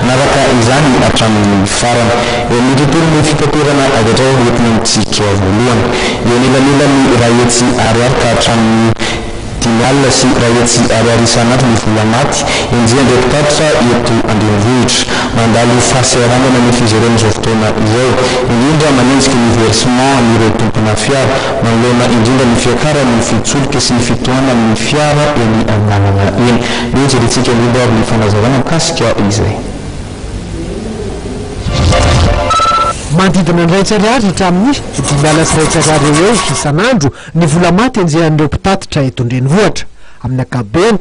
Nanaraka izany hatramin'ny farany. Eo amin'ny tontolon'ny fitaterana avy hatraiza no entina mitsidika voalohany? Eo anelanelan'ny iray hetsy ariary ka hatramin'ny. Dimy alina sy iray hetsy ariary isan'andro ny vola maty enjehin'ireo mpitatitra eto an-drenivohitra. Mandalo fahasahiranana ny fizerena izao fotoana izao, indrindra manenjika ny versement an'ireo tompona fiara, manoloana indrindra ny fiakaran'ny fitsolika sy ny fitohanan'ny fiara eny an-dalana eny. Eo jerentsika indrindra ary ny fanazavana mikasika izay. Manodidina ny iraika ariary hatramin'ny dimy alina sy iraika ariary eo ho eo isan'andro Ny vola maty enjehan'ireo mpitatitra eto an-drenivohitra, amin'ny ankapobeny,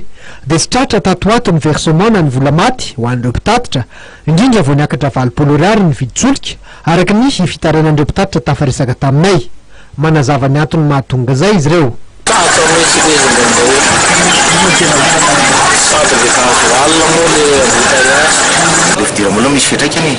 dia tsy tratra tato ho ato ny versement na ny vola maty ho an'ireo mpitatitra, indrindra vao niakatra valopolo Ariary ny vidin-tsolika, araka ny fitarainan'ireo mpitatitra tafaresaka taminay. Manazava ny antony mahatonga izay izy ireo. Tahaka ny resintsika izy indraindray hoe, Ino no tena marina? Sady rehefa azo alina moa ilay embouteillage. Ilay fidiram-bola misy fiantraikany e!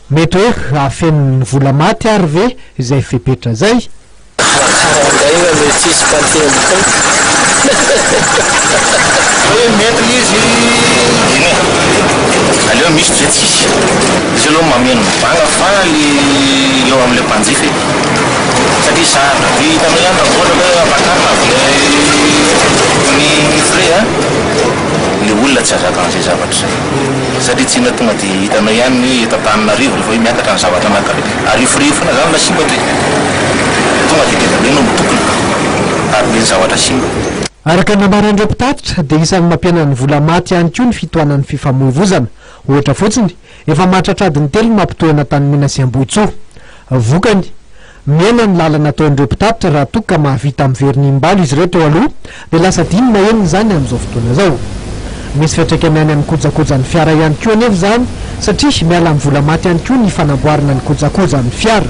Mety hoe hahafeno ny vola maty ary ve izay fepetra zay? Makarangaina le tsisy mpanteny Hoe maître izy Dine aleo misy toizay tsisy Izy aloha mameno mivanga fa le eo amle mpanjifa e Satria zahava be hitanao ihany raha ohatra hoe avatar avle ny frais a Le olona tsy azaka anzay zavatra zay. satria tsy inona tonga dia hitanao ihany ny hoe eto Antananarivo rehefa hoe miakatra ny zavatra anankiray dia ariforiro foana izany ilay simba dia tonga dia tena hoe nondokina ary be ny zavatra simba. Araka ny nambaran'ireo mpitatitra dia isan'ny mampihenan'ny vola maty ihany koa ny fitohanan'ny fifamoivozana. Ohatra fotsiny, efa mahatratra adiny telo ny mampitohy an'Antanimena sy Ambohitsoa. Vokany. Mihena ny lalana ataon'ireo mpitatitra raha toa ka mahavita miverina imbalo izy ireo teo aloha dia lasa adino na enina izany amin'izao fotoana izao. Misy fiantraikany any amin'ny kojakojan'ny fiara ihany koa anefa izany satria miala amin'ny vola maty ihany koa ny fanamboarana ny kojakojan'ny fiara.